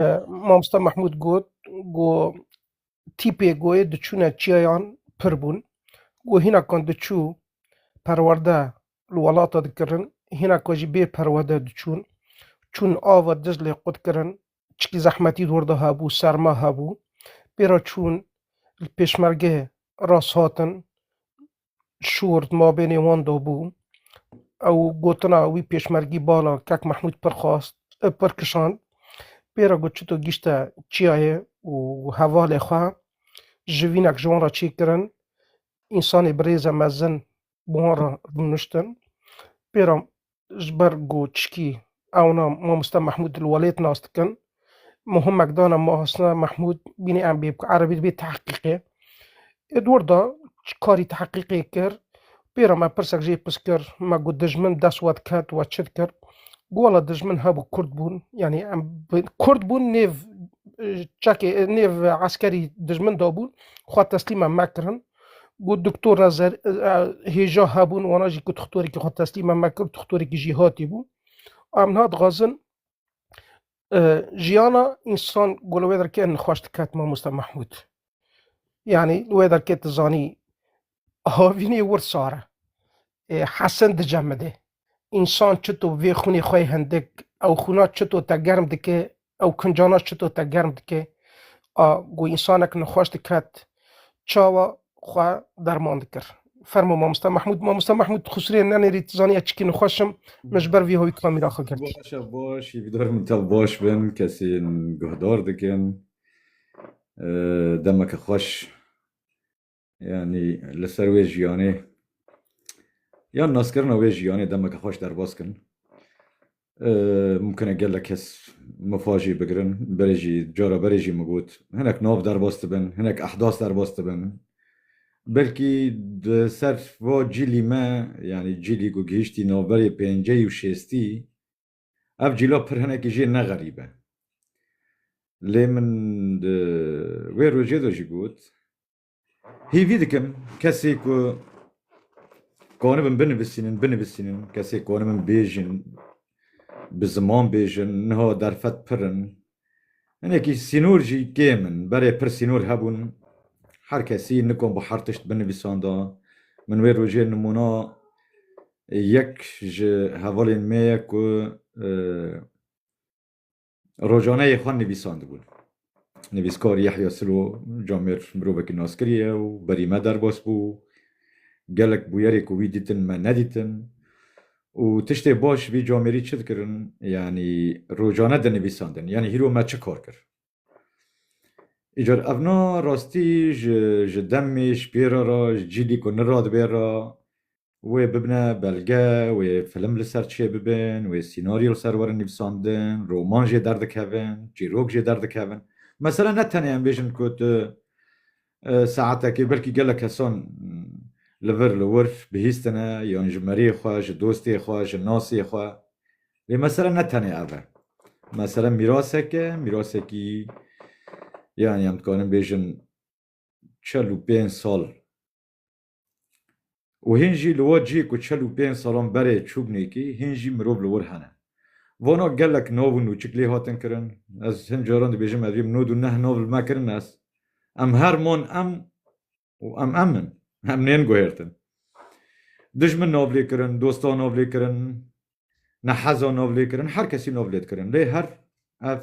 Mamosta Mehmûd got ku tîpê goyê diçûne çiyayan pir bûn. Ku hînakan diçû perwerde li welata dikirin, hînakan jî bê perwerde diçûn. Çûn ava Diclê qut kirin. Çikî zehmetî li werde hebû, serma hebû. Pê re çûn li pêşmerge rast hatin. Şûr di mabênê wan de bû. Ew gotina wî pêşmergî bala Kek Mehmûd pir xwast, pir kişand. Pê re got çito gîşte çiyayê û hevalê xwe jivînek ji wan re çê kirin. Însanê bi rêze mezin bi wan re rûniştin. Pê re ji ber ku çikî ewna mamoste Mehmûd li welêt nas dikin. Muhimek dana mamoste Mehmûd bînî em bê ku erebî dibê teheqîqê. Ê dor da karî teheqîqê kir. Pêra me pirsek jê pirs kir me ku dijmin dest we diket we çi dikir. Ku wela dijmin hebû Kurd bûn yanî em Kurd bûn nêv çekê nêv eskerî dijmin dabûn xwe teslîm em nekirin. Got Doktor Rezer hêja hebûn wana jî ku tuxtorekî xwe teslîme me kir tuxtorekî jî hatî bû. Em niha dixwazin jiyana însan ku li wê derke nixweş diket mamoste Mehmûd. Yanî li wê derke tu zanî havînê wir sar e. Hesin dicemide. Însan çito vê xûnê xwe yê hindik ew xûna çito te germ dike Ew kincana çito te germ dike? A ku însanek nexweş diket çawa xwe derman dikir? Fermo mamosta Mehmûd. Mamosta Mehmûd xusirê nenêrî tu zanî ez çikî nexweş im min ji ber vî hoyî kamîra xwe girtî. Baş e baş, hîvîdar min tev baş bin, kesên guhdar dikin. Demeke xweş. Yanî li ser wê jiyanê yan naskirina wê jiyanê demeke xweş derbas kin. Mumkin e gelek kes mifa jî bigirin, berê jî cara berê jî min got hinek nav derbas dibin, hinek ehdas derbas dibin. Belkî di ser va cîlî me yanî cîlî ku gihîştî navberê pêncî û şêstî Ev cîlo pir hinekî jê ne xerîb e. Lê min di wê rojê de jî got hêvî dikim kesê ku konibin binivisînin binivisînin kesê konibin bêjin bi ziman bêjin niha derfet pir in Hinekî sînor jî kêm in. Berê pir sînor hebûn. Her kesî nikom bi her tişt binivîsanda. Min wê rojê nimûna yek ji hevalên me ye ku rojaneyê xwe nivîsandibûn. Nivîskar Yehya Silo camêr mirovekî naskirî ye û berî me derbas bû. Gelek bûyerê ku wî dîtin me nedîtin. Û tiştê baş vî camêrî çi dikirin? Yanî rojane dinivîsandin. Yanî hîro me çi kar kir? Îcar ev na rastî ji ji demê ji pê re re ji cîlî ku niradibê re wê bibine belge, wê film li ser çê bibin, wê sînaryo li ser werin nivîsandin, roman jê derdikevin, çîrok jê derdikevin. Mesele ne tenê em bêjin ku tu Saetekê belkî gelek kesan li vir li wir bihîstine yan ji meriyê xwe, ji dostê xwe, ji nasê xwe. Lê mesele ne tenê ev e. Mesele mîrasek e, mîrasekî yan yan dikarin bêjin çel û pênc sal Û hîn jî li we cihê ku çel û pênc salan berê çûbnê kî hîn jî mirov li wir hene. Vana gelek nav û nûçik lê hatin kirin. Ez hin caran dibêjim ev yê nod û neh nav li me kirin ez. Em her man em û em em in. Em nên guhêrtin. Dijmin nav lê kirin, dostan nav lê kirin. Ne hezo novlêkirin her kesî nov lê dikirin lê her ev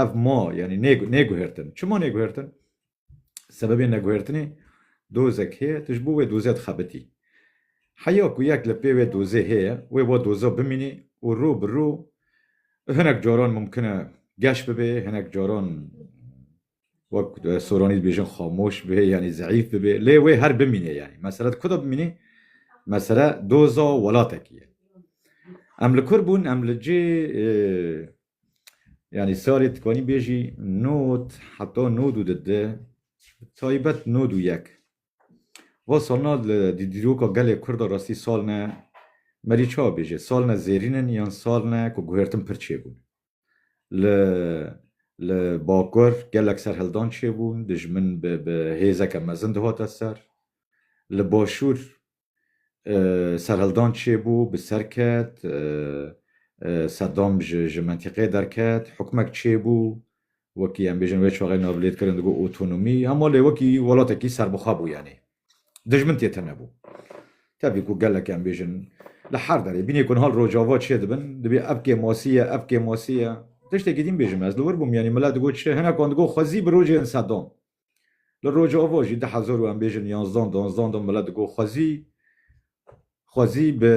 ev ma yanî nêguhêrtin. Çima nêguhêrtin? Sebebê neguhêrtinê dozek heye tu ji bo wê dozê dixebitî. Heya ku yek li pê wê dozê heye wê wa doza bimînî û rû bi rû hinek caran mumkin e geş bibê, hinek caran wek Soronî dibêjin xamoş be yanî zeîf bibe lê wê her bimîne yanî mesele di ku de bimîne mesele doza welatekî ye. Em li kur bûn em li cê yanî salê tikanî bêjî not heta nod û di di taybet nod û yek. Va salna li dîroka gelê Kurd a rastî salne merî ça bêje salne zêrînin yan salne ku guhertin pir çêbûn. Li li bakur gelek serhildan çêbûn, dijmin bi bi hêzeke mezin dihate ser. Li başûr serhildan çêbû, bi ser ket, Sedam ji ji mentîqeyê derket, hukmek çêbû, wekî em bêjin wê çaxê navlêdkirin digot otonomî, hema lê wekî welatekî serbixwe bû yanî. Dijmin tê tenebû. Tevî ku gelek em bêjin li her derê bînê ku niha li Rojava çê dibin, dibê ev kê masî ye, ev kê masî ye. Tiştekî din bêjim ez li wir bûm yanî milet digot çi, hinekan digot xwezî bi rojên sedan. Li Rojava jî di hezar û em bêjin yanzdan, danzdan de milet digot xwezî Xwezî bi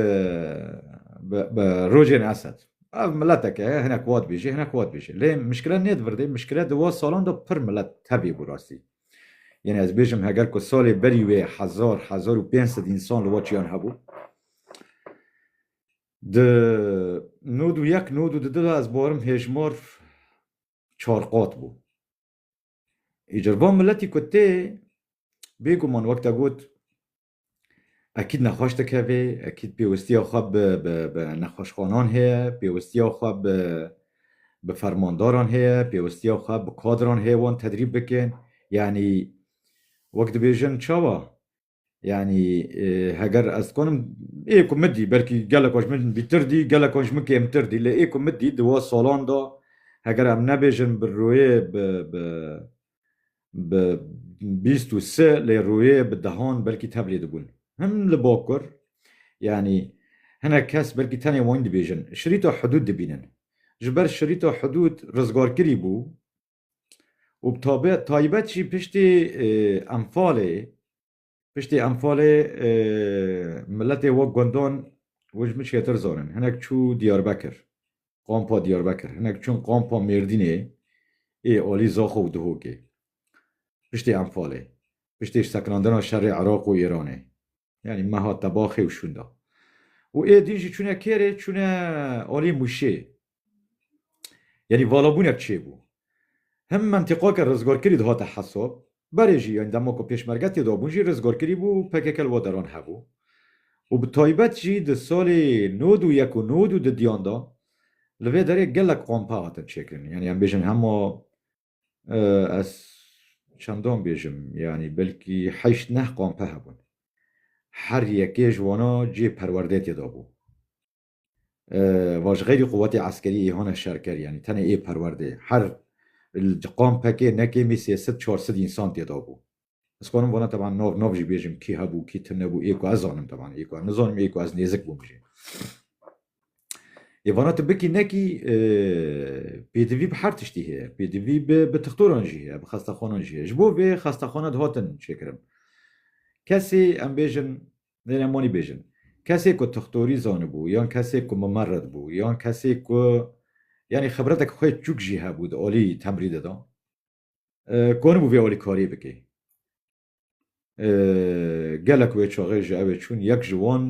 bi rojên Esed. Ev mileteke heye hinek wa dibêje hinek wa dibêje. Lê mişkile nê di vir de mişkile di wa salan de pir milet tevî bû rastî. Yenê ez bêjim heger ku salê berî wê hezar hezar û pênc sed însan li Waçiyan hebû. Di nod û yek nod û di du de ez barim hêjmar çar qat bû. Îcar van miletî ku tê bêguman wek te got Ekîd nexweş dikevê, ekîd pêwistiya xwe bi bi nexweşxwanan heye, pêwistiya xwe bi bi fermandaran heye, pêwistiya xwe bi kadran heye wan tedrîb bikin. Yanî wek dibêjin çawa? Yanî heger ez dikanim ê ku min dî belkî geleka ji min bîtir dî geleka ji min kêmtir dî lê ê ku min dî di wan salan de heger em nebêjin bi rûyê bi bi bi bîst û si lê rûyê bi dehan belkî teblî dibûn. Him li bakur yanî hinek kes belkî tenê wan dibêjin şirîta hidûd dibînin. Ji ber şirîta hidûd rizgarkirî bû û bi taybet jî piştî enfalê Piştî Enfalê miletê wek gundan û ji min çêtir zan in. Hinek çû Diyarbekir, Qampa Diyarbekir, hinek çûn Qampa Mêrdînê ê alî Zaxo û Duhokê. Piştî Enfalê, piştî ji sekinandina şerê Iraq û Îranê yanî meha Tebaxê û şûnda û ê din jî çûne kêrê çûne alî Mûşê Yanî valabûnek çêbû. Him mentiqake rizgarkirî dihate hesab, berê jî yanî dema ku pêşmerge têdabûn jî rizgarkirî bû û pkk li wan deran hebû û bi taybet jî di salê nod û yek û nod û du diyan de li vê derê gelek qampe hatin çêkirin. Yanî em bêjin hema ez çendan bêjim yanî belkî heşt neh qampe hebûn. Her yekê ji wana cihê perwerdeyê têdabû. va ji xeyrî quwetê eskerî ê hone şerker yanî tenê ê perwerdê her li qam pekê nekê mî sê sid çar sid însan têda bû. Ez karim vana teban nav nav jî bêjim kî hebû kî tim nebû ê ku ez zanim teban ê ku em nizanim ê ku ez nêzik bûm jî. Ê vana tu bikî nekî pêdivî bi her tiştî heye pêdivî bi tixtoran jî heye bi xestexwanan jî heye ji bo vê xestexwana dihatin çêkirin kesê em bêjin Dê em wanî bêjin. Kesê ku tixtorî zanibû yan kesê ku mimerid bû yan kesê ku yanî xibretek xwe çûk jî hebû di alî temrî de da konibû vê alî kariyê bike. Gelek wê çaxê ji evê çûn yek ji wan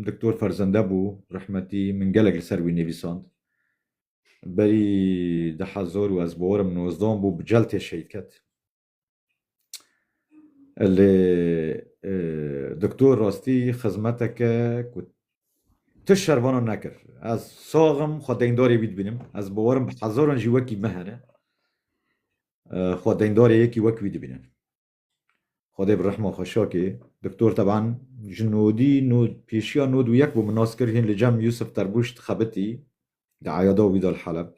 Diktor Ferzende bû rehmetî min gelek li ser wî nivîsand. Berî di hezar û ez bawerim nozdan bû bi celtê şehîd ket. Lê doktor rastî xizmeteke ku tu şervana nekir. Ez sax im, xwe deyndarê wî dibînim. Ez bawer im bi hezaran jî wekî min hene xwe deyndarê yekî wek wî dibînin. Xwedê bi rehma xwe şakê. Doktor teban ji nodî nod pêşiya nod û yek bû min nas kir hîn li cem Yûsif Terbuş dixebitî Di eyada wî de li Heleb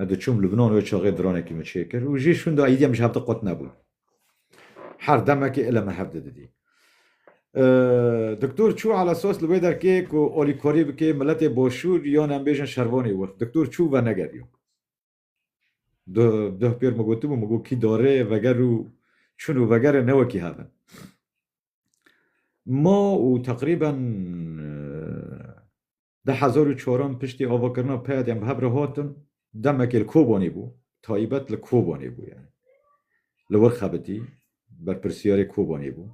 ez diçûm Lubnan wê çaxê dranekî min çê kir û jî şûnda êdî em ji hev de qut nebûn. Her demekê île min hev de didî. Doktor çû alesas li wê derkê ku alîkarî bikê miletê başûr yan em bêjin şervanê wir. Doktor çû ve negeriya. Duh pêr min gotibû min got kî darê veger û çûn û vegerê ne wekî hev in. Ma û teqrîben Di hezar û çaran piştî avakirina peyadên bi hev re hatin, demekê li Kobanê bû, taybet li Kobanê bû yani. Li wir xebitî, berpirsiyarê Kobanê bû.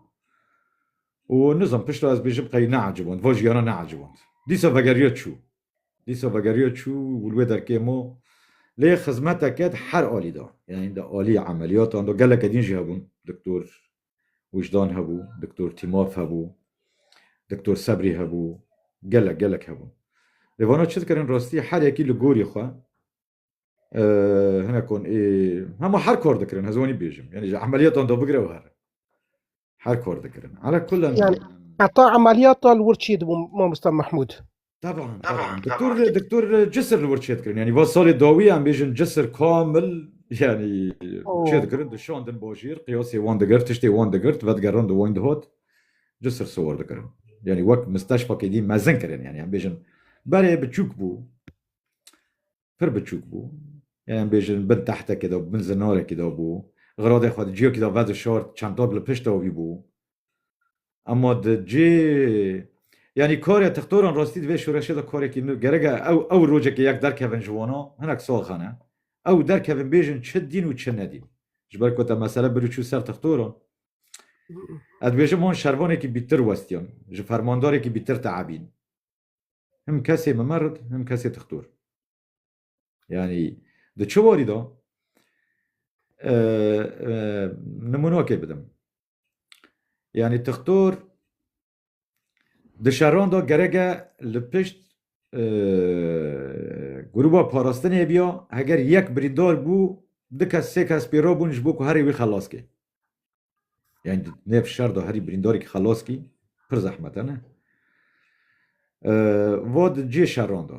Û nizam pişta ez bêjim qey neeciband, va jiyana neeciband. Dîsa vegeriya çû. Dîsa vegeriya çû û li wê derkê ma lê xizmeteke di her alî de, yani di alî emeliyatan de geleke din jî hebûn, doktor Wijdan hebû, Doktor Tîmaf hebû, Doktor Sebrî hebû, gelek gelek hebûn. Lê vana çi dikirin rastî her yekî li gorî xwe hinek kon ê hema her kar dikirin ez wanî bêjim yanî ji emeliyatan da bigire û her her kar dikirin. Ala kulan Heta emeliyata li wir çi dibû mamosta Mehmûd? Taban, taban. Doktor, doktor cisir li wir çê dikirin. Yani va salê dawî em bêjin cisir kamil yani çê dikirin, dişandin bajêr, qiyasê wan digir, tiştê wan digirt, vedigerin di wan dihat, cisir siwar dikirin. Yani wek misteşfakê dî mezin kirin yani em bêjin berê biçûk bû. pir biçûk bû. Ya em bêjin bin tehtekê de bin zinarekî de bû. Xiradê xwe di ciyekî de vedişart, çentad li pişta wî bû. Ema di cê yanî karê tixtoran rastî di vê şoreşê de karekî nû gerek e. Ew ew rojekê yek derkevin ji wana hinek saxan e. Ew derkevin bêjin çi dîn û çi nedîn. Ji ber ku te mesele bir û çû ser tixtoran. Ez dibêjim wan şervanekî bîtir westiyan. Ji fermandarekî bîtir teebîn. Him kesê mimerid, him kesê tixtor. Yani di çi warî da nimunakê bidim. Yani tixtor di şeran da gereke li pişt grûba parastinê biya heger yek birîndar bû du kes sê kes pêro bûn ji bo ku herê wî xelas ke. Yani di nêv şer de herî birîndarekî xelas kî pir zehmete ne. Va di cihê şeran de.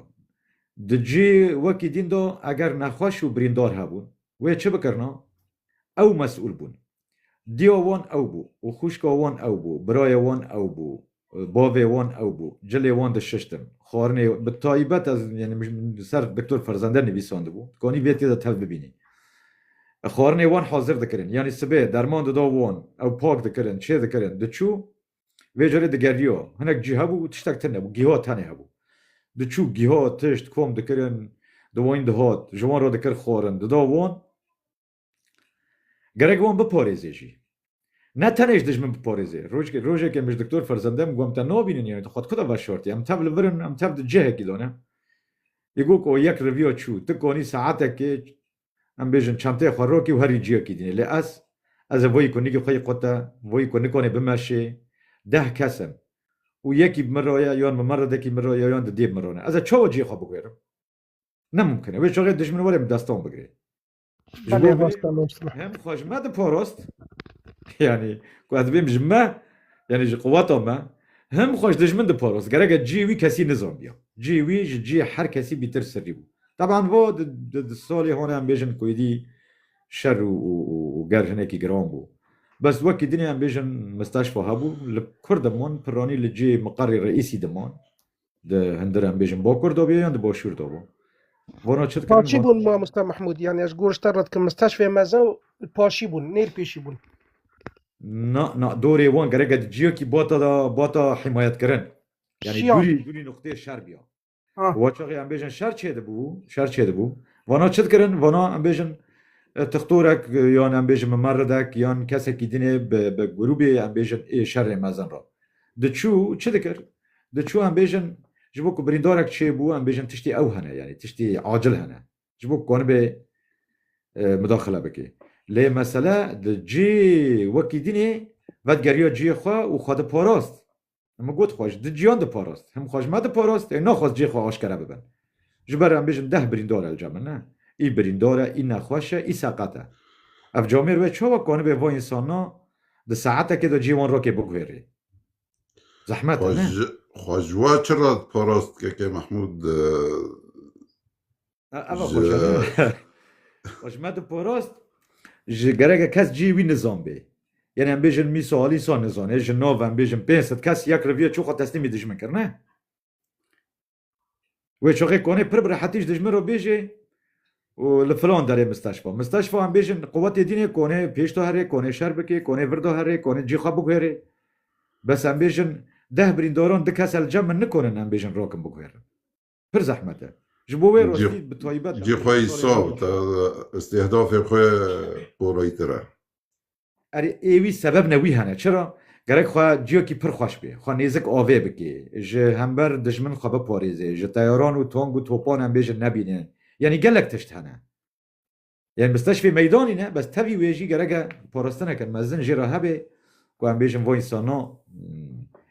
Di cihê wekî dîn de eger nexweş û birîndar hebûn, wê çi bikirina? Ew mesûl bûn. Diya wan ew bû û xwişka wan ew bû, birayê wan ew bû, Bavê wan ew bû. Cilê wan dişiştin. Xwarinê bi taybet ez li ser Doktor Ferzende nivîsandibû. Dikanî vê têde tev bibînî. Xwarinê wan hazir dikirin. Yanî sibê derman dida wan. Ew pak dikirin, çê dikirin. Diçû vê carê digeriya. Hinek cî hebû tiştek tune nebû. Giha tenê hebû. Diçû giha, tişt, kom dikirin. Di wan dihat. Ji wan re dikir xwarin. Dida wan. Gerek wan biparêzê jî. Ne tenê ji dijmin biparêzê. Rojekê min ji diktor ferzendê min got em te nabînin yanî tu xwe di ku de veşartî? Em tev li vir in, em tev di cihekî de ne. Yê got o yek riviya çû. Ti kanî saetekê em bêjin çenteyê xwe rakî û herî cihekî dînê. Lê ez, ez ê voyî ku nigî xwe yê qut e, voyî ku nikanê bimeşê, deh kes in. Û yekî bi min re ye, yan mimeredekî min re ye, yan di dê min re ne. Ez ê çawa cihê xwe bigwêrim? Ne mimkin e. Wê çaxê dijmin were min destan bigirê. Ji Belê bo vê rasta nûs be. hem xwe ji me diporost yanî ku ez bêm ji me yanî ji quweta me hem xwe ji dijmin diporost gereke cihê wî kesî nizanbiya. Cihê wî ji cihê her kesî bîtir sirrî bû. Teban bo di di di solê hone em bêjin ku êdî şer û û û û ger hinekî giran bû. Bes wekî dinê em bêjin misteşfa hebû li Kurd diman piranî li cihê miqerê reîsî diman. Di hundir em bêjin bokur dobiye yan di boşûr dobo. Bono çi dikirin? Paşî bûn mamosta Mahmûd yani ez gor ji te re dikim misteşfê meze û paşî bûn nêr pêşî bûn. Na na dorê wan gerek e ciyo kî bata da bata himayetkirin. Yani Şiyan. durî durî nuqtê şer biya. Ha. Wa çaxê em bêjin şer çê dibû, şer çê dibû. Vana çi dikirin? Vana em bêjin e, tixtorek e, yan em bêjin mimeredek yan kesekî dinê bi bi grûbê em bêjin ê şerê mezin ra. Diçû çi dikir? Diçû em bêjin ji bo ku birîndarek çêbû em bêjin tiştê ew hene yanî tiştê acil hene ji bo ku konibê midaxile bike. Lê mesele di cê wekî dînê vedgeriya ciyê xwe û xwe diparast. Min got xwe ji di ciyan diparast. Him xwe ji me diparast ê naxwest cê xwe aşkere bibin. Ji ber em bêjin deh birîndar e li cem min ne. Î birîndar e, î nexweş e, î seqet e. Ev camêr we çawa konibê va însanan di saetekê de ciyê wan rakê biguhêrê? Zehmet e, ne? Xwe ji wa çi re parast keke Mehmûd Eva xwe ji xwe ji me diparast ji gereke kes cihê wî nizan bê. Yenê em bêjin mîsa alî sa nizanê ji nav em bêjin pênc sed kes yek riviye çû xwe teslîmî dijmin kir ne? Wê şoxê konê pir bi rehetî ji dijmin re bêjê û li filan derê misteşfa. Misteşfa em bêjin quwetê dînê konê pêş de herê, konê şer bikê, konê vir de herê, konê cî xwe biguherê. Bes em bêjin deh birîndaran du kese li cem min nikonin em bêjin rakin biguherin. Pir zehmet e. Ji bo wê rastî bi taybet Cî xwe îsal te îstîhdafê xwe porayîtir e. Erê ê wî sebeb ne wî hene çira? Gerek xwe ciyakî pir xweş bê, xwe nêzik avê bikê, ji hember dijmin xwe biparêzê, ji teyaran û tong û topan em bêjin nebîne, yanî gelek tişt hene. Yanî misteşfê meydanî ne, bes tevî wê jî gerek e parastineke mezin jê re hebê ku em bêjin va însanan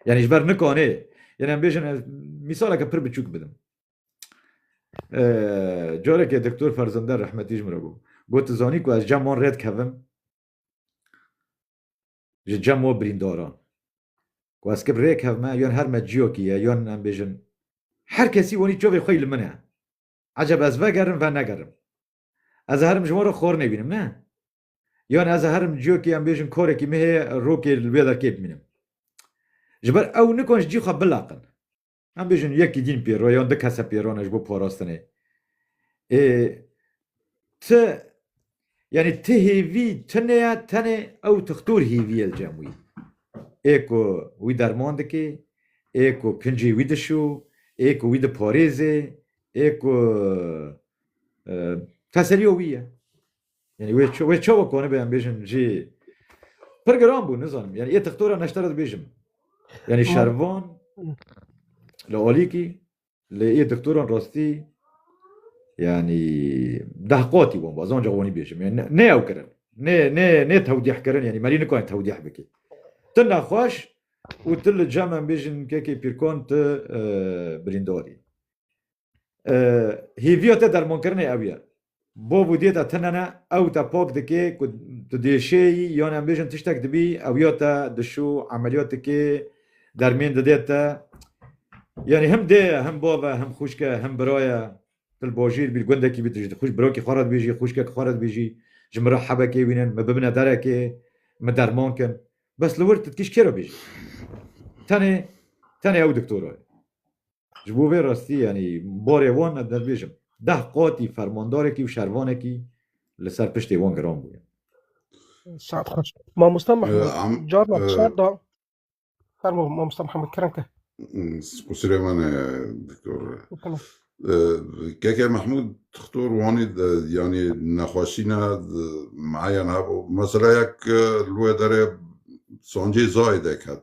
yanî ji ber nikanê yanî em bêjin ez mîsaleke pir biçûk bidim. Carekê Doktor Ferzinder rehmetî ji min re bû. Got tu zanî ku ez cem wan rê dikevim ji cem wan birîndaran. Ku ez kib rê kevime yan her me ciyakî ye yan em bêjin her kesî wanî çavê xwe yî li min e. Eceb ez vegerim venegerim. Ez ê herim ji wan re xwarinê bînim ne. Yan ez ê herim ciyakî em bêjin karekî min heye rokê li wê derkê bimînim. Ji ber ew nikan ji cî xwe bilaqin. Em bêjin yekî dîn pê re yan du kese pê re ne ji bo parastinê. Ê ti yanî ti hêvî tune ye tenê ew tixtor hêvî ye li cem wî. Ê ku wî derman dike, ê ku kincê wî dişo, ê ku wî diparêze, ê ku teseliya wî ye. Yani wê wê çawa koni be em bêjin jî pir giran bû nizanim. Yani yê textora neştera dibêjim. Yani şervan li alîkî lê yê doktoran rastî yani deh qatî wan ba zanca wanî bêjim. Yani ne ew kirin. Ne ne ne tewdîh kirin yani merî nikayên tewdîh bikî. Ti nexweş û ti li cem em bêjin kekê pîrkan ti birîndarî. Hêviya te dermankirinê ew ye. Bav û dê te tinene, ew te pak dike ku tu diêşêyî yan em bêjin tiştek dibî, ew ya te dişû, emeliyat dike, dermên dide te. Yanî him dê ye, him bav e, him xwişk e, him bira ye. Tu li bajîr bî, li gundekî bî, tu ji xwîş birakî xwe re dibêjî, xwişkekî xwe re dibêjî, ji min re hebekê wînin, min bibine derekê, min derman kin. Bes li wir tu dikî ji kê re bêjî? Tenê, tenê ew doktora ye. Ji bo vê rastî yanî barê wan ez dibêjim deh qatî fermandarekî û şervanekî li ser piştê wan giran bûye. Saet xweş. Mamosta Mehmed carna çar da fermo mamosta Mehmed kirin ke. Kusirê min e doktor. Keke Mehmud doktor wanî yanî nexweşîna meyan hebû. Mesela yek li wê derê sancê zayê dek hebû.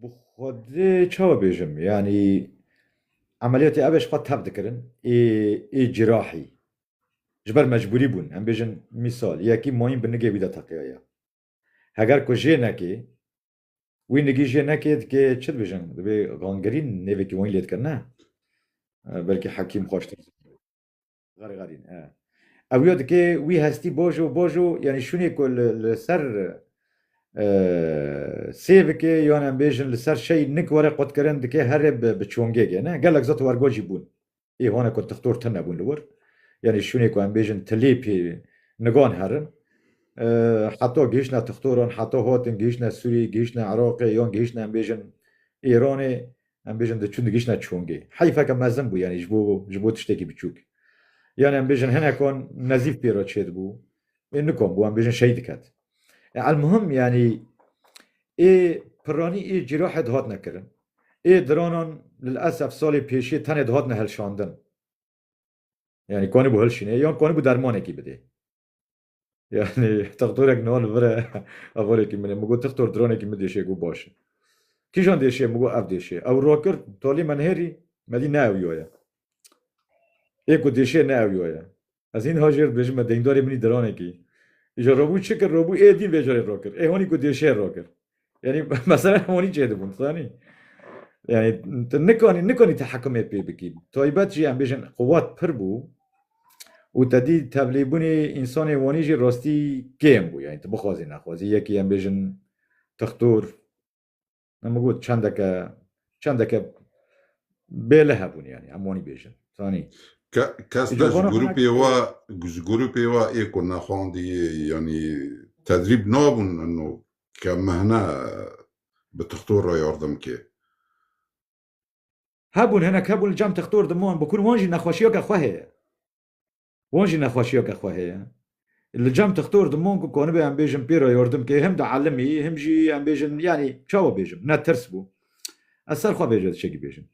Bi xwedê çawa bêjim? Yanî emeliyatê ev e ji xwe tev dikirin ê ê cîrahî. Ji ber mecbûrî bûn. Em bêjin mîsal yekî mayîn bi nigê wî de teqiyaya. Heger ku jê nekê, wî nigî jê nekê dikê çi dibêjin? Dibê gangirîn nêvekî wan lê dike ne. Belkî hekîm xweştir zana. Xerxerîn e. Ew ya dikê wî hestî boj û boj û yanî şûnê ku li li ser e, sê bikê yan em bêjin li ser şey nik were qutkirin dikê herê bi bi çongê ge ne. Gelek zat wergo jî bûn. Ê hane ku tixtor tine bûn li wir. Yanî şûnê ku em bêjin tilê pê nigan herin. E, heta gihiştine tixtoran, heta hatin gihiştine Sûriyê, gihiştine Iraqê yan gihiştine em bêjin Îranê Em bêjin diçûn digişne çongê. Heyfeke mezin bû yanî ji bo ji bo tiştekî biçûk. Yanî em bêjin hinekan nezîf pê re çêdibû. Ê nikom bû em bêjin şehîd diket. E elmuhim yanî ê piranî ê cîrahê dihatine kirin. Ê diranan lil esef salê pêşê tenê dihatine hilşandin. Yanî kanîbû hilşînê yan kanîbû dermanekî bidê. Yani textorek niha li vir e hevalekî min e. Min got textor dronekî min dêşê got baş e. Kîjan dêşê ye? Min got ev dêşê ye. Ew rakir talî me nihêrî me dît ne ew ya ye. Ê ku dêşê ne ew ya ye. Ez hîn niha jê re dibêjim me deyndorê min î dronekî îcar rabû çi kir rabû ê dîn vê carê rakir. Ê hanî ku dêşê rakir. Yani mesela honi çê dibûn zanî. Yani tu nikanî nikanî tehekimê pê bikî. Taybet jî em bêjin quwat pir bû û te dî tevlîbûnê însanê wanî jî rastî kêm bû. Yani tu bixwazî nexwazî yekî em bêjin tixtor em got çendeke çendeke bêle hebûn yani em wanî bêjin zanî. Kes te ji grûpê wa ji grûpê wa ê ku nexwandî yanî tedrîb nabûn ke mehne bi tixtor re yardim ke. Hebûn hinek hebûn li cem tixtor di man bikûn wan jî nexweşiya ke xwe heye. Wan jî nexweşiya ke xwe heye. Li cem tixtor di man ku konibe em bêjin pê re yardim ke him di elimî him jî em bêjin yanî çawa bêjim ne tirs bû. Ez ser xwe bêje tişekî bêjim.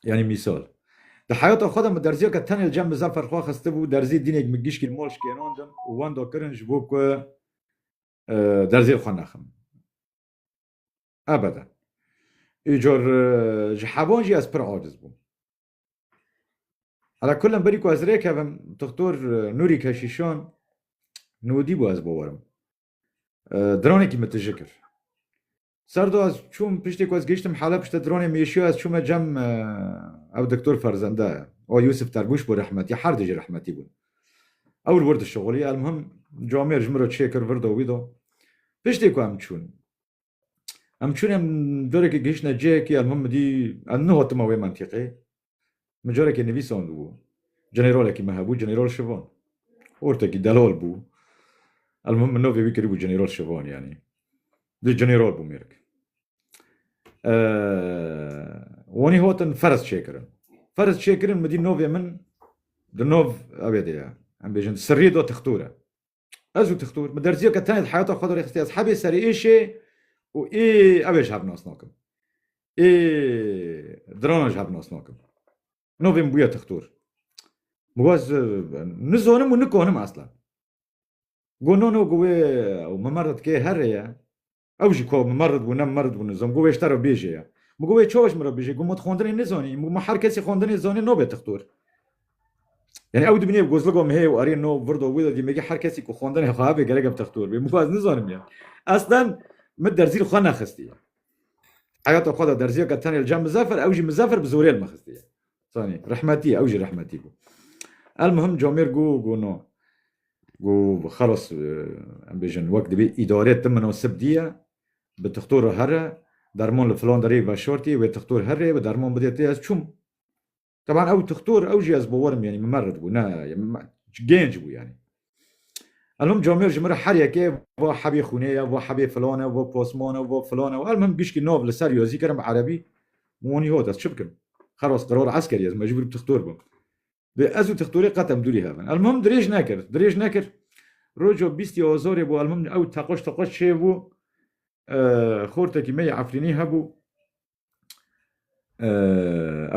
Yanî mîsal. Di heyata xwe de min derziya ke tenê li cem Mizeffer xwe xistibû derzî dînek min gişkî li mal şikênandim û wenda kirin ji bo ku derzên xwe nexim. Ebede. Îcor ji hevan jî ez pir aciz bûm. Ala kullem berî ku ez rê kevim Dixtor Nûrî Keşîşan nûdî bû ez bawerim. Diranekî min tije kir. Serdo ez çûm piştî ku ez gihîştim Heleb piştî dronê Mîşyo ez çûme cem ew diktor ferzende o Yûsif Terbûş bû rehmetî her du jî rehmetî bûn. Ew li wir dişixulî elmuhim camêr ji min re çê kir vir do wî do. Piştî ku em çûn em çûn em carekî gihîştine cihekî elmuhim min dî em nihotime wê mentîqê Min carekê nivîsand û Generalekî me hebû General Şivan. Ortekî delal bû. Elmuhim min navê wî kiribû General Şivan yanî. Dê General bû mêrik. Wanî hatin ferz çêkirin. Ferz çêkirin midî navê min di nav evê de ye. Em bêjin sirrî da tixtor e. Ez û Tixtur bi derziyeke tenê di heyata xwe de rêxistî ez hebê serê êşê û ê ew ê ji hev nas nakim. Ê dirana ji hev nas nakim. Navê min bûye Tixtur. Min got nizanim û nikanim eslan. Got no no got wê Memer de tikê herê ye. Ew jî ku min merid bû ne min merid bû nizam got wê ji te re bêje ye. Min got wê çawa ji min re bêje? Got min tu xwendinê nizanî. Min got me her kesî xwendinê zanî nabe tixtor. Yanî ew dibînê bi gozlika me heye û erê no virdo wê de dî me gê her kesî ku xwendinê xwe hebe gerek em tixtor bê. Min got ez nizanim ya. Eslen min derzî li xwe nexistiye. Heyata xwe de derziyeke tenê li cem Mizefer ew jî Mizefer bi zorê li min xistiye. Zanî rehmetî ye ew jî rehmetî bû. El mihim Camêr got got no. Go xelas em bêjin wek dibê îdare tim minasib diye bi tixtor re here derman li filan derê veşartî wê tixtor here wê derman bidê tê ez çûm. Teban ew tixtor ew jî ez bawerim yanî min mered bû ne gênc bû yanî. Elom camêr ji min re her yekê va hebê xûnê ye va hebê filan e va pasman e va filan e elmim gişkî nav li ser yazî kirim bi erebî min wanî hat ez çi bikim xelas qerar eskerî ez mecbûr bi tixtor bim. Dê ez û tixtorê qet em dûrî hev in. Elmuhim dirêj nekir. Dirêj nekir. Roja bîstî azarê bû elmuhim ew teqaş teqaş çêbû. Xortekî me yê Efrînî hebû.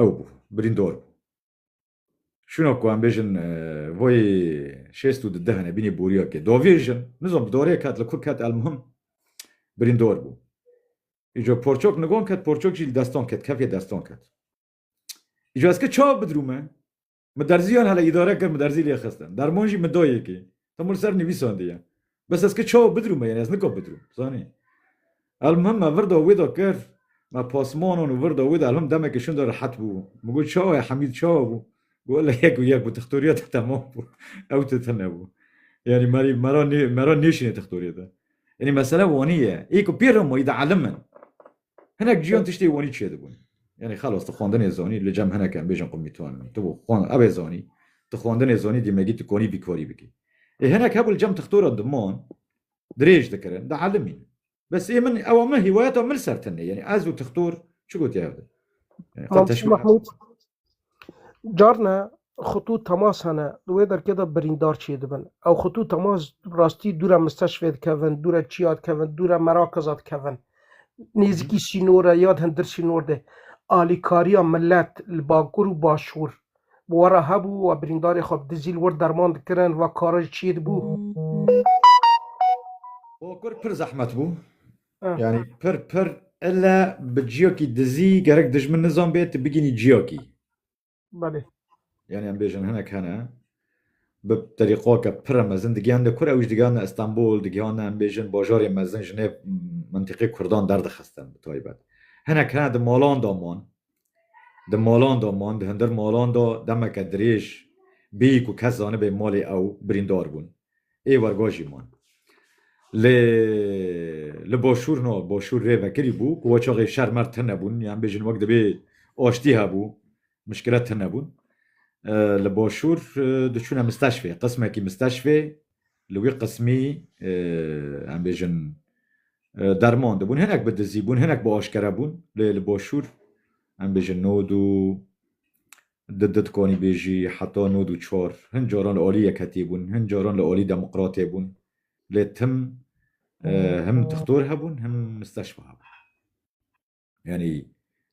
Ew bû. Birîndar bû. Şuna ku em bêjin vayê şêst û di deh hene bînî boriyakê. Davêjin. Nizam bi darê ket li ku ket elmuhim birîndar bû. Îco porçak nigan ket porçak jî li destan ket kefê destan ket. Ji ez ki çav bidrûme, min derziyan hele îdare kir, min derzî lê xistin. Derman jî min da yekê. Tam li ser nivîsandiye. Bes ez ki çav bidrûme, yanî ez nika bidrûm, zanî. Elmuhim me vir da wê da kir, me pasmanan û vir da wê da elmuhim demekê şûn da rehet bû. Min got çawa ye Hemîd çawa bû? Got wele yek û yek bû, tixtoriya te temam bû. Ew tu tune bû. Yanî merî me ra nê me ra nêşînê tixtoriya te. Yanî mesele wanî ye. Ê ku pê re ma î de elim in. Hinek ciyan tiştê wanî çêdibûn. Yanî xelas tu xwendinê zanî li cem hinek em bêjin qumî tu anî. Tu xwan evê zanî. Tu xwendinê zanî dîmegî tu konî bîkarî bikî. Ê hinek hebû li cem tixtoran di man dirêj dikirin, di elimîn. Bes ê min ewa min hîwayeta min li ser tune. Yanî ez û tixtor çi gotî hev di. Xwe teşbîh Carna xwetû temas hene di wê derkê de birîndar çêdibin. Ew xwetû temas rastî dûra misteşfê dikevin, dûra çiya dikevin, dûra merakeza dikevin. Nêzîkî sînor e ya di hindir sînor de alîkariya milet li bakur û başûr bi we re hebû û birîndarê xwe bi dizî li wir derman dikirin, vekara jî çêdibû. Bakur pir zehmet bû. Yani pir pir illa bi ciyakî dizî gerek dijmin nizan bê tu bigînî ciyakî. Belê. Yani em bêjin hinek hene bi terîqaka pira mezin digiyan de kur ew ji digiyan de Istanbul digiyan em bêjin bajarê mezin ji nê mintîqê Kurdan derdixistin bi taybet. Hinek hene di malan da man Di malan de man, di hindir malan de demeke dirêj bê ku kes zanibê malê ew birîndar bûn. Ê werga jî man. Lê li başûr na, başûr rê vekirî bû ku weçaxê şer mer tune bûn, yan bêjin wek dibê aştî hebû, mişkilet tune bûn. Li başûr diçûne misteşfê, qismekî misteşfê li wî qismî em bêjin derman dibûn hinek bi dizî bûn hinek bi aşkere bûn lê li başûr em bêjin nod û di di dikanî bêjî heta nod û çar hin caran li alî yekhetî bûn hin caran li alî demokratê bûn lê tim him dixtor hebûn him misteşfa hebûn. yanî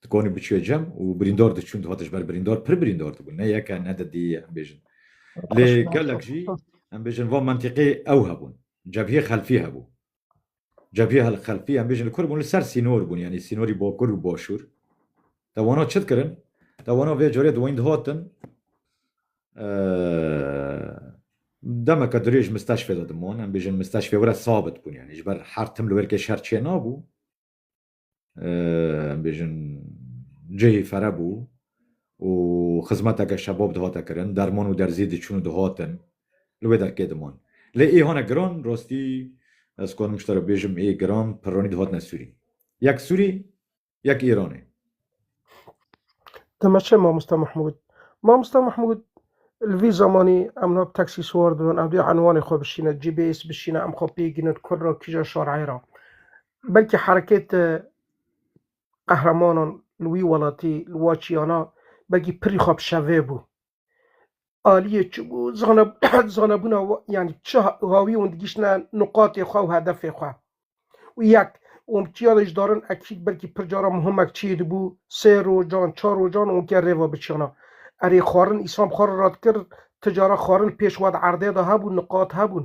dikonî biçûye cem û birîndar diçûn dihat ji ber birîndar pir birîndar dibûn ne yeke ne de dî em bêjin lê gelek jî em bêjin van mentiqê ew hebûn cebhiyê xelfî hebû cebhiyê hel xelfî em bêjin li kur bûn li ser sînor bûn yanî sînorî bakur û başûr te wana çi dikirin te wana vê carê di wînd hatin demeke dirêj misteşfê de diman em bêjin misteşfê were sabit bûn yanî ji ber her tim li wêrkê şer çê nabû em bêjin cihê fere bû û xizmeteke şebab dihate kirin, derman û derzî diçûn û dihatin, li wê derkê diman. Lê ê hane giran, rastî ez karim ji te re bêjim ê giran pirranî dihatine sûrî. Yek sûrî, yek Îranê. Deme çi Mamosta Mehmûd? Mamosta Mehmûd li vî zamanî em niha bi taksî siwar dibin, ev dê enwanê xwe bişîne, GPS bişîne, em xwe pê gînin kur ra kîja şareyê ra. Belkî herekêta qehremanan li wî welatî, li Waçiyana belkî pirî xwe bi şevê bû. aliyê zanebûna yanî çi hawî hûn digîştine nuqatê xwe û hedefê xwe. Û yek, hûn bi çiya de ji darin ekîd belkî pir caran muhimek çiyê dibû, sê rojan, çar rojan hûn ke rêva biçiyana. Erê xwarin îslam xwarin radikir, ti caran xwarin pêş we di erdê de hebûn, nuqat hebûn.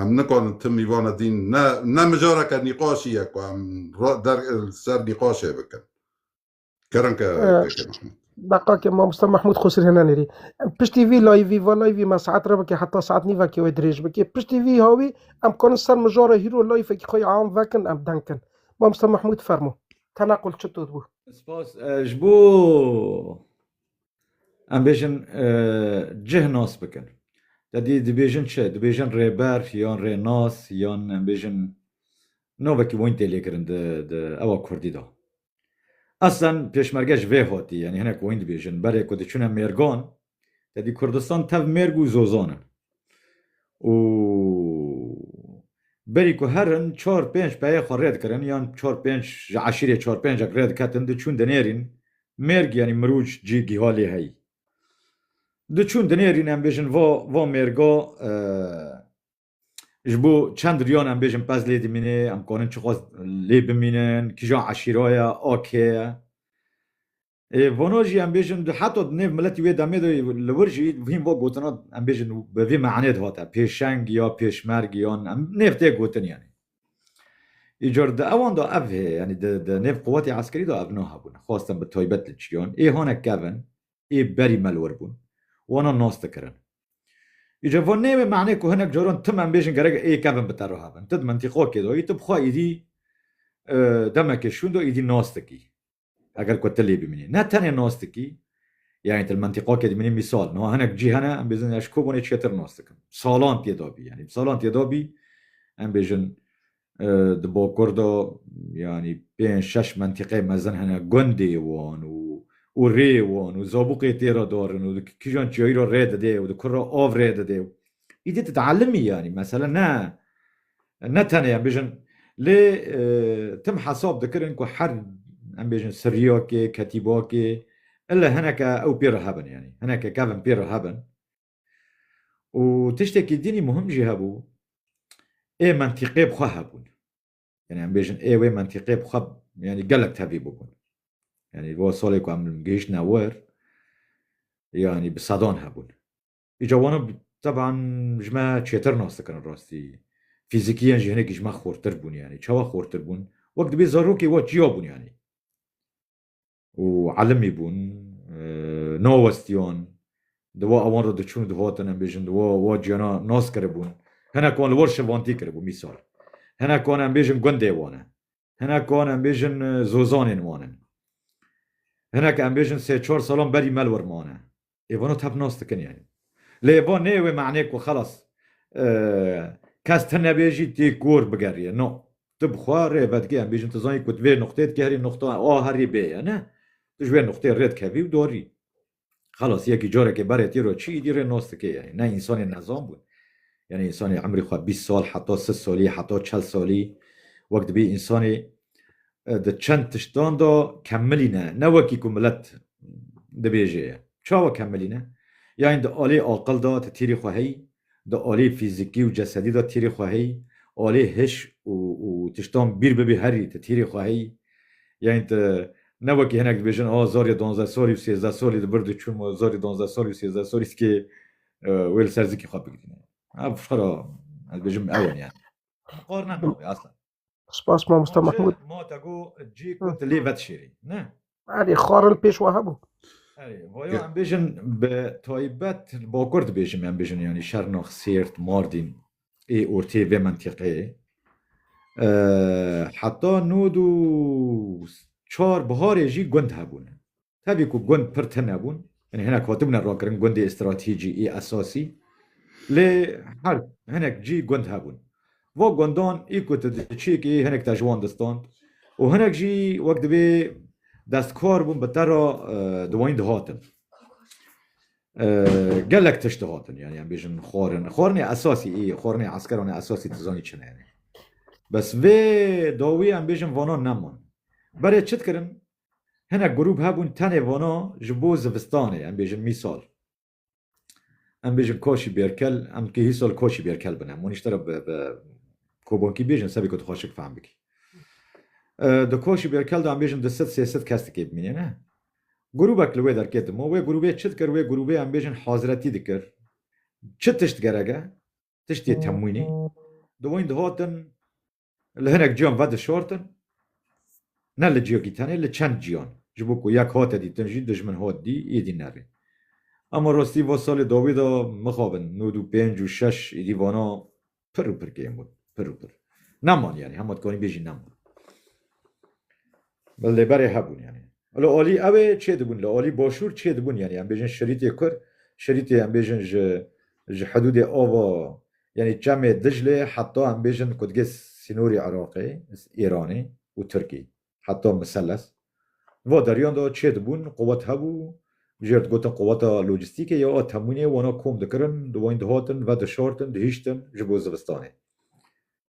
Em nikarin tim îvana dîn ne ne mijareke nîqaşî ye ku em der ser nîqaşê bikin. Kerin ke Beqa ke mamosta Mahmud Xosir henan rî. Piştî vî layvî va layvî me saet re bike heta saet nîvekê wê dirêj bike. Piştî vî hawî em kanin ser mijara hîro layfekî xwe am vekin em deng kin. Mamosta Mahmud fermo. Tenaqul çi tut bû? Spas ji bo Em bêjin cih nas bikin. Te dî dibêjin çi? Dibêjin rêber yan rênas yan em bêjin navekî wan tê lêkirin di di ewa kurdî de. Eslen pêşmerge ji vê hatî yanî hinek wan dibêjin berê ku diçûne mêrgan te dî Kurdistan tev mêrg û zozan in. û berî ku herin çar pênc peyê xwe rê dikirin yan çar pênc ji eşîrê çar pêncek rê diketin diçûn dinêrîn mêrg yanî mirûc cî giha lê heyî diçûn dinêrîn em bêjin va va mêrga ji bo çend riyan em bêjin pez lê dimînê em kanin çixwest lê bimînin kîjan eşîra ye a kê ye Ê vano jî em bêjin heta di nêv miletî wê demê de li wir jî hîn va gotina em bêjin bi vî manê de hate pêşeng ya pêşmerg yan em nêv tê gotin yanî. Îcar di ewan de ev hê yanî di di nêv quwetê eskerî de ev niha bûn xwestin bi taybet li çiyan ê hane kevin ê berî me li wir bûn wana nas dikirin. Îcar va nê wê manê ku hinek caran tim em bêjin gerek ê kevin bi te re hebin. Ti di mintîqakê de yî ti bi xwe êdî demekê şûn de êdî nas dikî. Eger ku tilî bimînî ne tenê nos dikî yanî til mentiqakê dimînî mîsal niha hinek cî hene em bêjin eş kobonê çêtir nos dikim salan tê da bî yanî salan tê da bî em bêjin di bakur da yanî pênc şeş mentiqê mezin hene gundê wan û û rê wan û zabûqê tê re darin û di kîjan çiyayî re rê didê û di kur re av rê didê û îdî tu dielimî yanî mesele ne Ne tenê em bêjin lê tim hesab dikirin ku her em bêjin siriyakê, ketîbakê ille hineke ew pê re hebin yanî hineke kevin pê re hebin û tiştekî dînî muhim jî hebû ê mentîqê bi xwe hebûn. Yanî em bêjin ê wê mentîqê bi xwe yanî gelek tevlî bûbûn. Yanî bo salê ku em gihiştine wir yanî bi sedan hebûn. Îca wan teban ji me çêtir nas dikin rastî. Fîzîkiyen jî hinekî ji me xortir bûn yanî. Çawa xortir bûn? Wek dibê zarokê wan çiya bûn yanî. Û elimî bûn, nawestiyan, di wan ewan re diçûn û dihatin em bêjin di wan ciyana nas kiribûn. Hinek wan li wan şivantî kiribûn mîsal. Hinek wan em bêjin gundê wan e. Hinek wan em bêjin zozanên wan in. Hinek em bêjin sê çar salan berî mel wir mane. Ê vano tep nas dikin yanî. Lê van neyê wê manê ku xelas kes ti nebêjî tê kor bigeriyê. No. Tu bi xwe rê vedikê em bêjin tu zanî ku tu vê nuqtê dikê herî nuqta A herî B ye ne. Tu ji wê nuqtê rê dikevî û dorî. Xelas yekî carekê berê tî re çi îdî rê nas dike yanî. Ne însanê nezan bûn. Yanî însanê emrî xwe bîst sal heta sid salî heta çel salî wek dibî însanê di çend tiştan de kemilîne ne wekî ku milet dibêje ye. Çawa kemilîne? Yanî di alê aqil de ti tîrî xwe heyî di aliyê fîzîkî û cesedî de tîrê xwe heyî, aliyê hiş û û tiştan bîr bibî herî ti tîrê xwe heyî. Yanî ti ne wekî hinek dibêjin a zarî donzdeh salî û sêzdeh salî di bir di çûn ma zarî donzdeh salî û sêzdeh salî zikê wê li ser zikê xwe bigirîne. Ev xwera ez dibêjim ew in yanî. Qarne nabê aslan. Spas mamosta Mahmud. Ma te go cî ku tu lê vedişêrî. Ne? Erê xwarin pêş wa hebû. Erê, vaya em bêjin bi taybet li bakur dibêjim em bêjin yanî Şernax, Sêrt, Mardîn ê ortê vê mentiqeyê. Heta nod û çar biharê jî gund hebûne. Tevî ku gund pir tune bûn, yanî hinek hatibûne rakirin gundê stratîcî ê esasî lê her hinek cî gund hebûn. Va gundan ê ku tu diçî kê hinek te ji wan distand û hinek jî wek divê destkar bûn bi te re dwanîn dihatin. Gelek tişt dihatin yanî em bêjin xwarin. Xwarinê esasî ê xwarinê eskeran ê esasî tu zanî çi ne yanî. Bes vê dawî em bêjin vana neman. Berê çi dikirin Hinek grûp hebûn tenê vana ji bo zivistanê em bêjin mîsal em bêjin kaşî bêrkel em kihî sal kaşî bêrkel bin em wanîşte re bi kobankî bêjin sebê ku dixwaz şik fehm bikî. Di kaşî bêrkel de em bêjin di sed sê sed kes dikê bimînê ne. Grûbek li wê derkê dima wê grûbê çi dikir wê grûbê em bêjin haziretî dikir. Çi tişt gerek e? Tiştê temwînî. Di wan dihatin Li hinek cîyan vedişortin, ne li cîyekî tenê, li çend cîyan. Ji bo ku yek hate dîtin jî dijmin hat dî, êdî nerê. Ama rastî va salê dawî de mixabin nod û pênc û şeş êdî vana pir û pir kêm bûn. Pir û pir. Neman yanî hema dikanî bêjî neman. Min li berê hebûn yanî. Li alî ew ê çê dibûn, li alî başûr çê dibûn yanî em bêjin şerîtê kur, şerîtê em bêjin ji ji hidûdê ava yanî çemê Diclê heta em bêjin ku digê sînorî Iraqê, Îranê û Tirkî heta Miseles va deriyan de çê dibûn, quwet hebû, jê re digotin quweta lojîstîkê ya a temwînê wana kom dikirin, dûayîn dihatin, vedişartin, dihiştin ji bo zivistanê.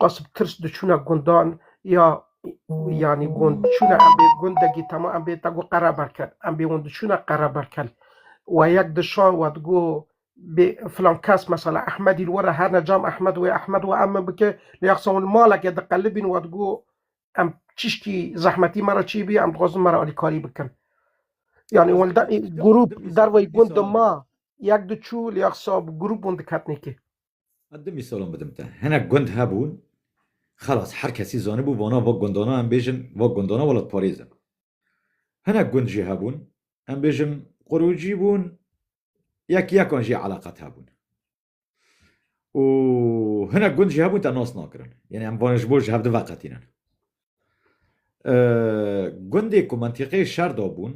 Qas bi tirs diçûne gundan ya yanî gund diçûne em bê gundekî tema em bê te got qereberkel em bê hûn diçûne qereberkel we yek dişa we digot bê filan kes mesela Ehmedî li we re her ne cam Ehmed wê Ehmed wê em min bike lê ya qisa hûn li malekê diqelibîn we digot em çişkî zehmetî me re çî bî em dixwazin me re alîkarî bikin yanî hûn li de- grûp derveyî gund dima yek diçû lê ya qisa bi grûp hûn diketinê kê. Ez du mîsalan bidim te. Hinek gund hebûn, xelas her kesî zanibû vana va gundana em bêjin va gundana welatparêz in. Hinek gund jî hebûn, em bêjin qurûcî bûn, yek yekan jî eleqet hebûn. Û hinek gund jî hebûn te nas nakirin. Yanî em vanê ji bo ji hev di veqetînin. Gundê ku mentiqê şer dabûn,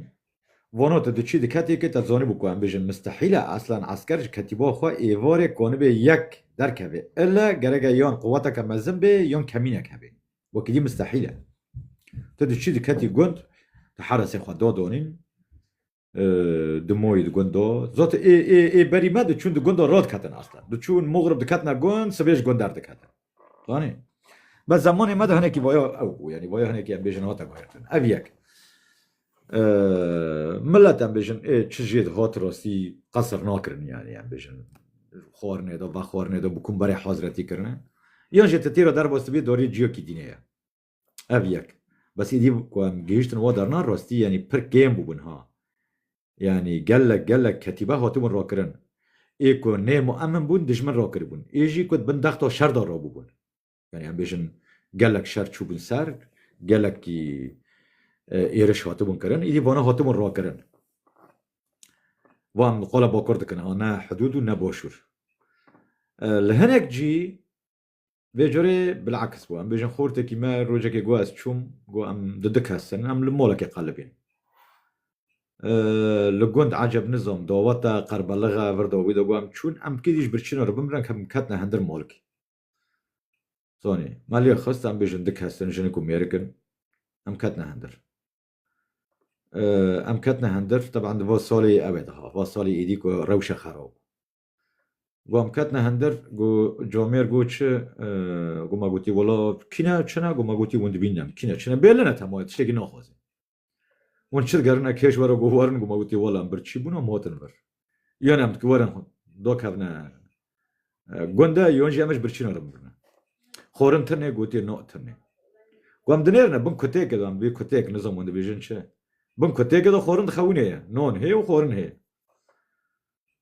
vano te diçî di ketêkê te zanîbû ku em bêjin mistehîl e eslan esker ji ketîba xwe êvarê kanibê yek derkevê ille gerek e yan quweteke mezin bê yan kemînek hebê wekîdî mistehîl e. Tu diçî diketî gund tu heresê xwe dadanîn Dimoyî di gundo zot ê ê ê berî me diçûn di gundo rod ketin asta. Diçûn mugrib diketina gund sibê ji gund derdiketin. Zanî? Be zemanê me de hinekî vaya ew bû yanî vaya hinekî em bêjin hate gotin. Ev yek. Millet em bêjin ê çi jê di hat rastî qesir nakirin yanî em bêjin xwarinê de vexwarinê de bi kum berê hazretî kirine. Yan jê ti têra derbas dibî dorî ciyakî dînê ye. Ev yek. Bes îdî ku em gihîştin we derna rastî yanî pir kêm bûbûn ha. Yanî gelek gelek ketîbe hatibûn rakirin. Ê ku nê muemin bûn dijmin rakiribûn. Ê jî ku di bin dexta şer de rabûbûn. Yanî em bêjin gelek şer çûbûn ser, gelekî êriş hatibûn kirin. Îdî vana hatibûn rakirin. Van qala bakur dikin ha ne hidûd û ne başûr. Li hinek cî Vê carê bil'aks bû. Em bêjin xortekî me rojekê got ez çûm, got em di du kes in, em li molekê qelibîn. Li gund Eceb Nizam daweta Qerbalixa virda wî de got em çûn, em kî dîş birçîna re bimirin em ketine hindir molkê. Zanî, me lê xist em bêjin du kes in, jinik û mêrik in, em ketine hindir. Em ketine hindir, teban di va salê ew ê de hat, va salê êdî ku rewşa xerab bû. Gom ketine hindir go comêr go çi go ma gotî wela kîne çine go ma gotî wind bîne kîne çine bêline temaya tiştekî naxwazê. Hûn çi digerine kêş were go werin go ma gotî wela em bir çî bûna em hatin vir. Yon em dikî werin do kevne gunde yon jî em ji birçîna re bibirine. Xwarin tinê gotî na tinê. Go em dinêrine bin kutêke de em vê kutêk nizam hûn dibêjin çi. Bin kutêke de xwarin dixewinê ye. Nan hê û xwarin hê.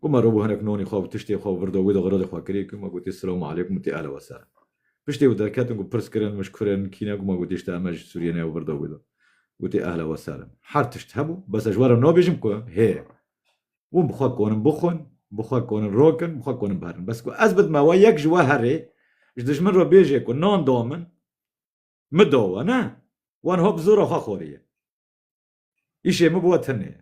Ku me robû hinek nonê xwe û tiştê xwe birdo wê de xiredê xwe kirî ku me gotî silamu aleykum û tê elewe ser. Piştê wê derketin ku pirs kirin mij kure in kî ne ku me gotî işte eme ji Sûriyê ne ew birdo wê de gotî ehlewe ser in. Her tişt hebû bes ez ji we re nabêjim ku hê. Hûn bi xwe konin bixwin, bi xwe konin rokin, bi xwe konin biherin. Bes ku ez bidime we yek ji we herê ji dijmin re bêjê ku nan da min, min da we ne, wan ha bi zora xwe xwarî ye. Îşê min bi we tune ye.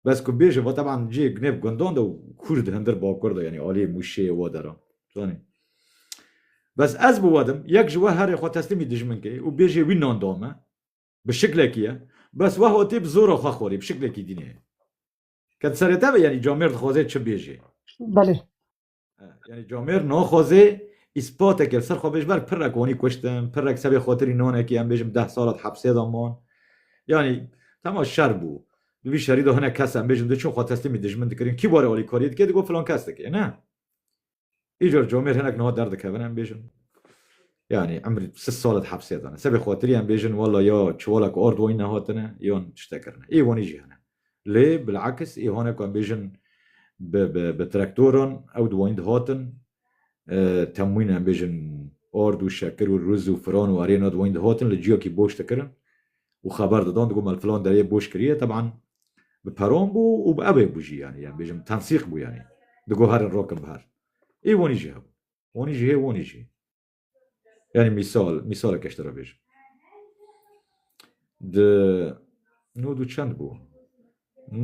Bes ku bêje va teban cihê gunêv gundan de û Kurd hundir bakur de yanî aliyê Mûşê wa deran. Zanî. Bes ez bi we dim yek ji we herê xwe teslîmî dijmin kê û bêjê wî nan da me bi şiklekî ye bes we hatê bi zora xwe xwarî bi şiklekî dînê ye. Ket serê te be yanî camêrd dixwazê çi bêjê. Belê. Yani Camêr naxwazê îspateke li ser xwe bêj ber pirek wanî kuştin, pirek sebê xatirî nanekî em bêjin deh sala di hepsê de man. Yanî tema şer bû. Di vî şerî de hinek kes em bêjin di çûn xwe teslîmî dijmin dikirin. Kî warê alîkariyê dike digot filan kes dike. Ne. Îcar Camêr hinek niha derdikevin em bêjin. Yani em sis sal di hepsê de ne. Sebê xatirî em bêjin walla ya çiwalek ard wanî nehatine yan tiştekirine. Ê wanî jî hene. Lê bilakis îhonê ku em bêjin bi traktoran ew di wanî dihatin, temwîn em bêjin ard û şekir û riz û firan û arê na di wanî dihatin li ciyakî boş dikirin û xeber didan digot me li filan derê boş kiriye teban bi peran bû û bi evê bû jî yanî em bêjin tensîq bû yanî digot herin rokin bi her. Î wanî jî hebûn. Wanî jî hê wanî jî hê. Yani misal, misalek eşte ra bêj. Di nûd û çend bû?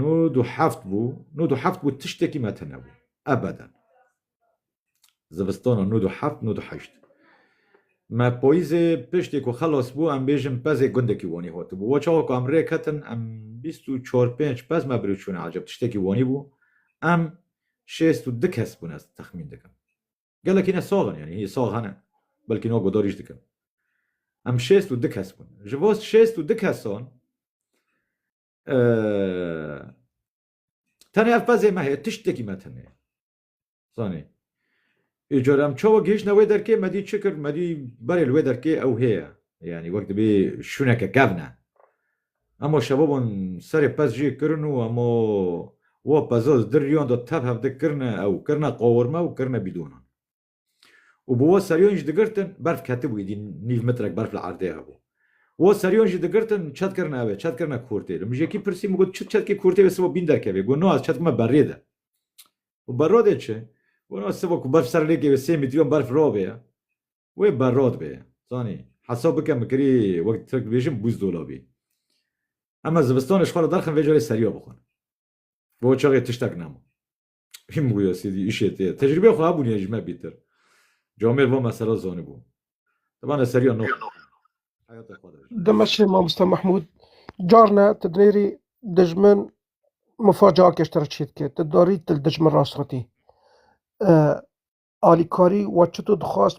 Nûd û heft bû, nûd û heft bû tiştekî me tune bû. Ebeden. Zivistana nûd û heft, nûd û heşt. Me poyîzê piştê ku xelas bû em bêjin pezê gundekî Wanî hatibû. Wa çawa ku em rê ketin em bîst û çar pênc pez me birî çûne ecêb tiştekî Wanî bû. Em şêst û du kes bûne ez texmîn dikim. Gelek hîne sax in yanî hî sax hene belkî niha godarî jî dikin. Em şêst û du kes bûn. Ji bo şêst û du kesan tenê ev qezê me heye tiştekî me tune ye. Zanî. Ê cara em çawa gihişne wê derkê me dî çi kir me dî berê li wê derkê ew hêye. Yanî wek dibê şûneke kevne. Hemo şebabon serê pez jî kirin û hemo wa peza di riyan de tev hev de kirine ew kirine qawirme û kirine bîdonan. Û bi wa seriyan jî digirtin berf ketibû êdî nîv mitrek berf li erdê hebû. Wa seriyan jî digirtin çet kirine ev ê çet kirine kurtê. Li mijekî pirsî min got çi çetkê kurtê wê siva bîn derkevê? Got no ez çetk me berrê de. Got berra dê çi? Got no siva ku berf ser lê kevê sê mîtriyan berf ravê ye. Wê berrot bê. Zanî, hesab bike min kirî wek tirk dibêjin bûzdola bî. Ema zivistanê ji xwe re derxin vê carê seriya bixwin. Bi we çaxê tiştek nema. Hîm bûye sêdî îşê tê. Tecrîbeyê xwe hebûniye ji me bîtir. Camêr va me sera zanibû. Te bane seriya no xwin. Heyatê xwe de ji. Demeşê Mamoste Mehmûd, Carne ti dinêrî dijmin mifa cihakê ji te re çê dike. Ti darî ti li dijmin rastxwitî. Alîkarî wa çito dixwast